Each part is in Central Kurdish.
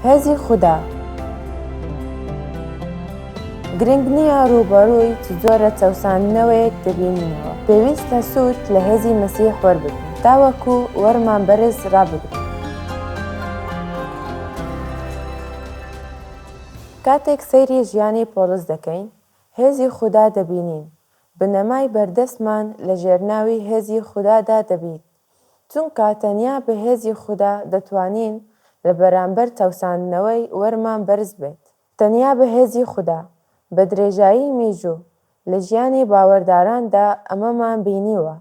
هێزی خودا گرنگ نییە ڕووبەڕووی چ جۆرە چەوساندنەوەیەک دەبینینەوە، پێویستە سوود لە هێزی مەسیح وەربگرین تاوەکو وەرمان بەرز ڕابگرین. کاتێک سەیری ژیانی پۆڵس دەکەین، هێزی خودا دەبینین، بنەمای بەردەستمان لەژێرناوی هێزی خودادا دەبیت، چونکە تەنیا بە هێزی خودا دەتوانین لە بەرامبەر چەوساندنەوەی وەرمان بەرز بێت. تەنیا بە هێزی خودا، بە درێژایی میژوو لە ژیانی باوەرداراندا ئەمەمان بینیوە،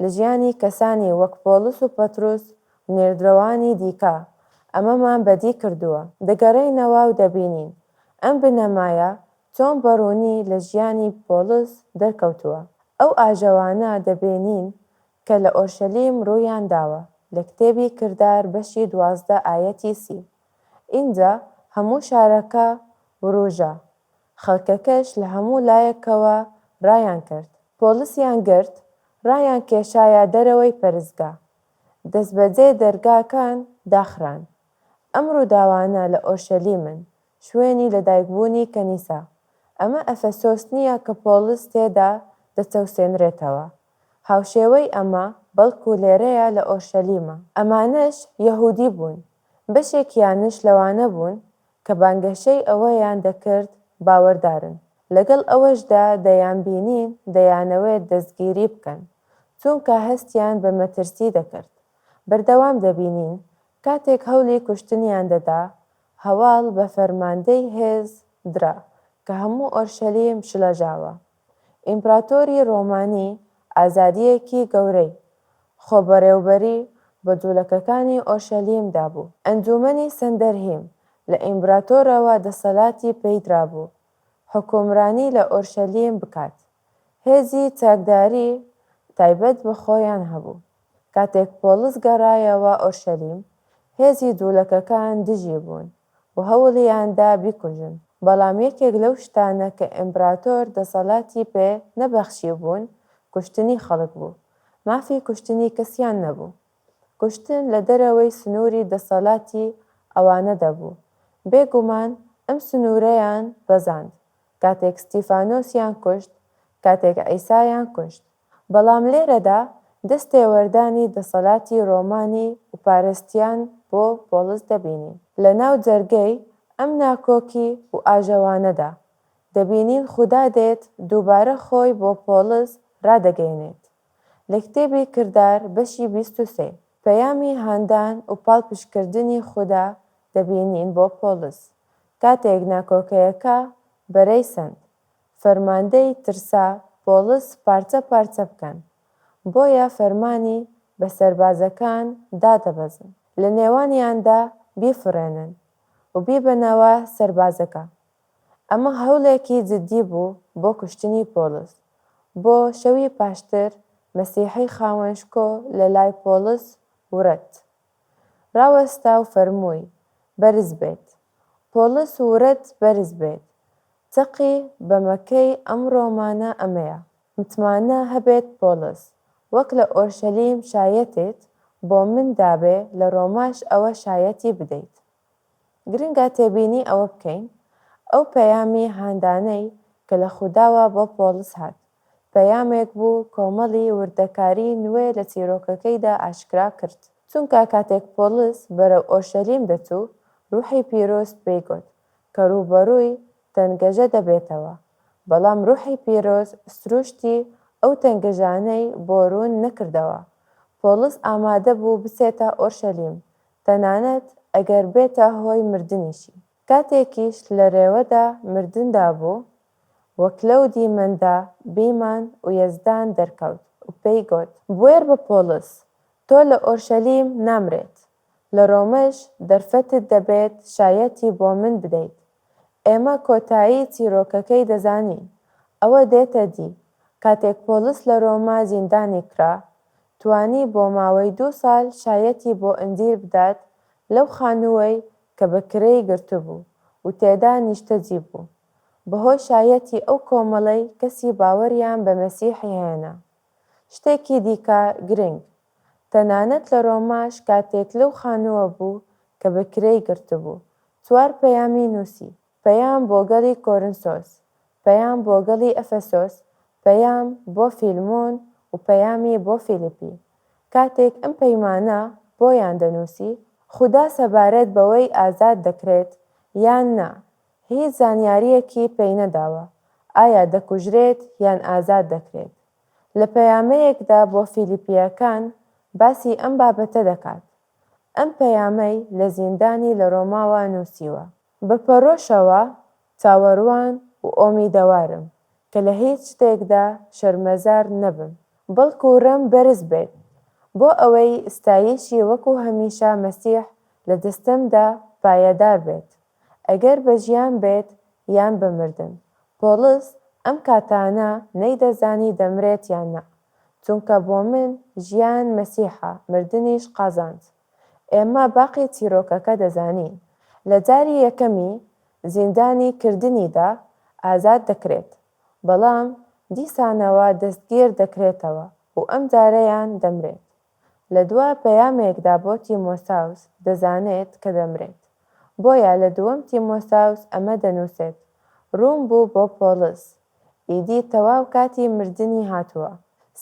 لە ژیانی کەسانی وەک پۆڵس و پەتروس و نێردرەوانی دیکە ئەمەمان بەدی کردووە. دەگەڕێینەوە و دەبینین ئەم بنەمایە چۆن بە ڕوونی لە ژیانی پۆڵس دەرکەوتووە. ئەو ئاژەوانە دەبینین کە لە ئۆرشەلیم ڕوویان داوە، لە کتێبی کردار بەشی دوازدە ئایەتی سی، ئینجا هەموو شارەکە ورووژا، خەڵکەکەش لە هەموو لایەکەوە ڕایان کرد، پۆڵسیان گرت، ڕایان کێشایە دەرەوەی پەرستگا، دەستبەجێ دەرگاکان داخران. ئەم ڕووداوانە لە ئۆرشەلیمن، شوێنی لەدایکبوونی کەنیسە، ئەمە ئەفەسۆس نییە کە پۆڵس تێدا دەچەوسێنرێتەوە، هاوشێوەی ئەمە بەڵکو لێرەیە لە ئۆرشەلیمە. ئەمانەش یەهودی بوون، بەشێکیانش لەوانە بوون کە بانگەشەی ئەوەیان دەکرد باوەردارن، لەگەڵ ئەوەشدا دەیانبینین دەیانەوێت دەستگیری بکەن، چونکە هەستیان بە مەترسی دەکرد. بەردەوام دەبینین کاتێک هەولی کوشتنیان دەدا، هەواڵ بە فەرماندەی هێز درا کە هەموو ئۆرشەلیم شڵەژاوە، ئیمپراتۆری ڕۆمانی ئازادییەکی گەورەی خۆ بەڕێوبەری بە جوولەکەکانی ئۆرشەلیمدا بوو. ئەنجوومەنی سەندەرهیم لە ئیمبراتۆرەوە دەسەلاتی پێی درابوو حوکمرانی لە ئۆرشەلیم بکات. هێزی چاکداری تایبەت بە خۆیان هەبوو. کاتێک پۆڵس گەڕایەوە ئۆرشەلیم، هێزی دوڵەکەکان دژی بوون و هەوڵیان دا بیکوژن، بەڵام یەکێک لەو شتانە کە ئیمبراتۆر دەسەڵاتی پێ نەبەخشیبوون کوشتنی خەڵک بوو، مافی کوشتنی کەسیان نەبوو. کوشتن لە دەرەوەی سنووری دەسەڵاتی ئەوانە دەبوو. بێ گومان ئەم سنوورەیان بەزاند کاتێک ستیفانۆسیان کوشت، کاتێک عیسایان کوشت. بەڵام لێرەدا دەست تێوەردانی دەسەلاتی رۆمانی وپارستیان بۆ پۆڵس دەبینین. لە ناو جەرگەی ئەم ناکۆکی وئاژەوانەدا، دەبینین خودا دێت دووبارە خۆی بۆ پۆڵس رادەگەینێت. لە کتێبی کردار بەشی بیست و سێ، پەیامی هاندان وپاڵپشتکردنی خودا دەبینین بۆ پۆڵس، کاتێک ناکۆکەیەکە بەرەی سەند. فەرماندەی ترسا پۆڵس پارچە پارچە بکەن، بۆیە فەرمانی بە سەربازەکان دا دەبەزن لە نێوانیاندا بیفڕێنن و بیبەنەوە سەربازەکە. ئەمە هەوڵێکی جدی بوو بۆ کوشتنی پۆڵس. بۆ شەوی پاشتر مەسیحی خاوەن شکۆ لە لای پۆڵس ورد. ڕاوەستا و فەرمووی، بەرز بێت. پۆڵس و ورەت بەرز بێت. چەقی بەمەکەی ئەمڕۆمانە ئەمەیە. متمانە هەبێت پۆڵس وەک لە ئۆرشەلیم شایەتیت بۆ من دابێ لە ڕۆماش ئەوە شایەتی بدەیت. گرنگە تێبینی ئەوە بکەین ئەو پەیامی هاندانەی کە لە خوداوە بۆ پۆڵس هات، پەیامێک بوو کۆمەڵی وردەکاری نوێ لە چیرۆکەکەیدا ئاشکرا کرد. چونکە کاتێک پۆڵس بەرەو ئۆرشەلیم دەچوو، روحی پیرۆز پێی گوت کە رووبەرووی تەنگەژە دەبێتەوە، بەڵام روحی پیرۆز سرووشتی ئەو تەنگەژانەی بۆ روون نەکردەوە. پۆڵس ئامادە بوو بچێتە ئۆرشەلیم، تەنانەت ئەگەر بێتە هۆی مردنیشی. کاتێکیش لە رێوەدا مردندا بوو و کلەو دیمەندا بیمان و یەزدان دەرکەوت و پێی گۆت، بوێر بە پۆڵس، تۆ لە ئۆرشەلیم نامرێت، لە رۆمەش دەرفەتت دەبێت شایەتی بۆ من بدەیت. ئێمە کۆتایی چیرۆکەکەی دەزانین، ئەوە دێتە دی، کاتێک پۆڵس لە رۆما زیندانی کرا، توانی بۆ ماوەی دوو سال شایەتی بۆ ئندیر بدات لەو خانووەی کە بە کرێی گرتبوو و تێدا نیشتەجی بوو، بەهۆی شایەتی ئەو کۆمەڵەی کەسی باوەریان بە مەسیحی هێنا. شتێکی دیکە گرنگ، تەنانەت لە رۆماش کاتێک لەو خانووە بوو کە بە کرێی گرتبوو، چوار پەیامی نووسی. پەیام بۆ گەڵی کۆرنسۆس، پەیام بۆ گەڵی ئەفەسۆس، پەیام بۆ فیلمۆن و پەیامی بۆ فیلیپی. کاتێک ئەم پەیمانە بۆیان دەنووسی، خودا سەبارەت بەوەی ئازاد دەکرێت یان نا، هیچ زانیارییەکی پێی نەداوە، ئایا دەکوژرێت یان ئازاد دەکرێت. لە پەیامەیەکدا بۆ فیلیپییەکان باسی ئەم بابەتە دەکات، ئەم پەیامەی لە زیندانی لە ڕۆماوە نووسیوە. بە پەرۆشەوە چاوەروان و ئۆمیدەوارم کە لە هیچ شتێکدا شەرمەزار نەبم، بەڵکو رێم بەرز بێت، بۆ ئەوەی ستایشی وەکو هەمیشە مەسیح لە دەستەمدا پایەدار بێت، ئەگەر بە ژیان بێت یان بە مردن. پۆڵس ئەم کاتانە نەیدەزانی دەمرێت یان نا، چونکە بۆ من ژیان مەسیحە، مردنیش قازانج. ئێمە باقی چیرۆکەکە دەزانین. لە جاری یەکەمی زیندانی کردنیدا ئازاد دەکرێت، بەڵام دیسانەوە دەستگیر دەکرێتەوە و ئەم جارەیان دەمرێت. لە دوا پەیامێکدا بۆ تیمۆساوس دەزانێت کە دەمرێت، بۆیە لە دووەم تیمۆساوس ئەمە دەنووسێت، ڕوون بوو بۆ پۆڵس، ئیدی تەواو کاتی مردنی هاتووە.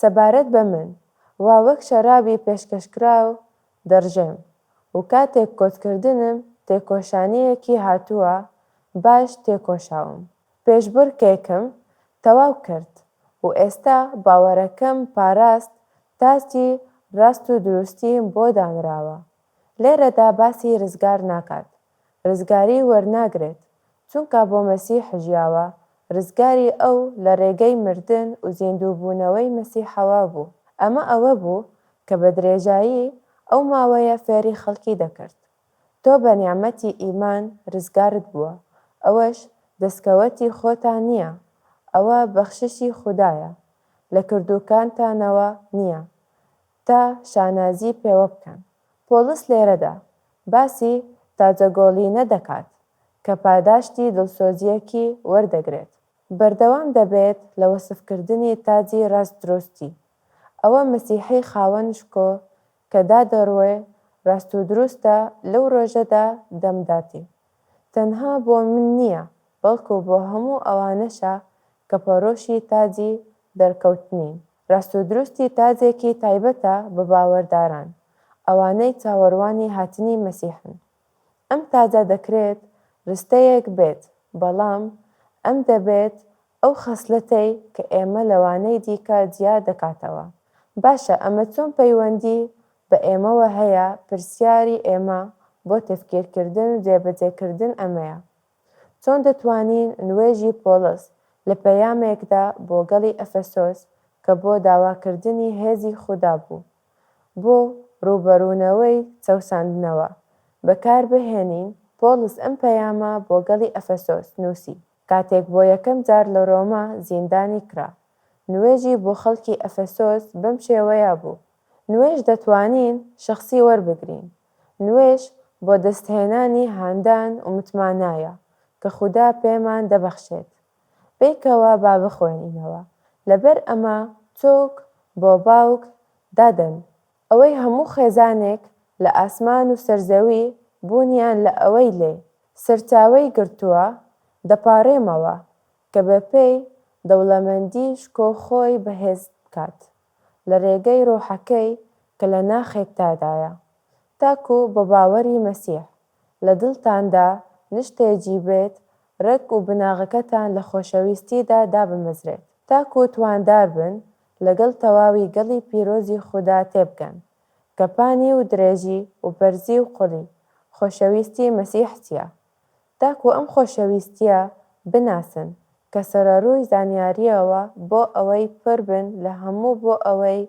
سەبارەت بە من، وا وەک شەرابی پێشکەشکراو دەڕژێم و کاتێک کۆتکردنم تێکۆشانییەکی هاتووە باش تێکۆشاوم. پێشبڕکێکم تەواو کرد و ئێستا باوەڕەکەم پاراست تاجی ڕاست و دروستیم بۆ دانراوە. لێرەدا باسی ڕزگار ناکات ڕزگاری وەرناگرێت چونکا بۆ مەسیح ژیاوە، ڕزگاری ئەو لە ڕێگەی مردن و زیندووبوونەوەی مەسیحەوە بوو، ئەمە ئەوە بوو کە بە درێژایی ئەو ماوەیە فێری خەڵکی دەکرد، تۆ بە نیعمەتی ئیمان ڕزگارت بووە، ئەوەش دەستکەوەتی خۆتان نییە، ئەوە بەخششی خودایە، لە کردووکانتانەوە نییە، تا شانازی پێوە بکەن. پۆڵس لێرەدا باسی تاجەگۆڵینە دەکات کە پاداشتی دڵسۆزییەکی وەردەگرێت. بەردەوام دەبێت لە وەسفکردنی تاجی ڕاستدروستی. ئەوە مەسیحی خاوەن شکۆ کە دادەڕوێ ڕاستودروستە لەو ڕۆژەدا دەمداتی. تەنها بۆ من نییە بەڵکو بۆ هەموو ئەوانەشە کە پەڕۆشی تاجی دەرکەوتنین. راستودروستی تاجێکی تایبەتە بە باوەرداران، ئەوانەی چاوەروانی هاتنی مەسیحن. ئەم تاجە دەکرێت رستەیەک بێت، بەڵام ئەم دەبێت ئەو خەسلەتەی کە ئێمە لەوانەی دیکە جیا دەکاتەوە. باشە ئەمە چۆن پەیوەندی بە ئێمەوە هەیە، پرسیاری ئێمە بۆ تەفکیرکردن و جێبەجێکردن ئەمەیە. چۆن دەتوانین نوێژی پۆڵس لە پەیامێکدا بۆ گەڵی ئەفەسۆس کە بۆ داواکردنی هێزی خودا بوو بۆ ڕووبەڕوونەوەی چەوساندنەوە، بەکاربهێنین؟ پۆڵس ئەم پەیامە بۆ گەڵی ئەفەسۆس نووسی کاتێک بۆ یەکەم جار لە ڕۆما زیندانی کرا. نوێژی بۆ خەڵکی ئەفەسۆس بەم شێوەیە بوو، نوێژ دەتوانین شەخسی وەربگرین، نوێژ بۆ دەستهێنانی هاندان و متمانایە کە خودا پێمان دەبەخشێت. بەیکەوە با بخوێنینەوە، لەبەر ئەمە چۆک بۆ باوک دادەن، ئەوەی هەموو خێزانێک لە ئاسمان و سەر زەوی بوونیان لە ئەوەی لێ سەرچاوەی گرتووە، دەپاڕێمەوە کە بەپێی دەوڵەمەندی شکۆ خۆی بەهێز بکات. لە رێگەی رۆحەکەی کە لە ناخێکتادایە، تاکو بە باوەری مەسیح لە دڵتاندا نشتێجی بێت، رەگ و بناغەکەتان لە خۆشەویستیدا دابمەزرێت، تاکو تواندار بن لەگەڵ تەواوی گەڵی پیرۆزی خودا تێبگەن، کە پانی و درێژی و بەرزی و قوڵی خۆشەویستی مەسیح چییە، تاکو ئەم خۆشەویستییە بناسن، کە سەرەڕووی زانیارییەوە بۆ ئەوەی پر بن لە هەموو بۆ ئەوەی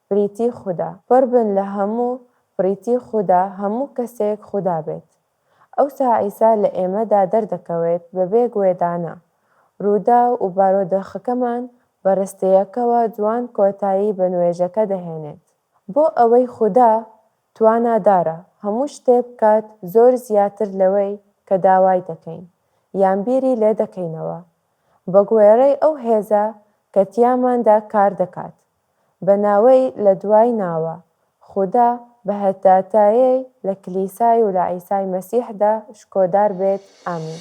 بریتی خودا، پر بن لە هەموو بریتی خودا هەموو کەسێک خودا بێت. ئەوسا عیسا لە ئێمەدا دەردەکەوێت بەبێ گوێدانە رووداو و بارۆدۆخەکەمان بە رستەیەکەوە جوان کۆتایی بە نوێژەکە دەهێنێت بۆ ئەوەی خودا توانادارە هەموو شتێک بکات زۆر زیاتر لەوەی کە داوای دەکەین یان بیری لێ دەکەینەوە بە گوێڕەی ئەو هێزە کە تیاماندا کار دەکات بە ناوەی لە دوای ناوە خودا بهتاتایەی لە کلیسای و لە عیسای مەسیحدا شکۆدار بێت ئامین.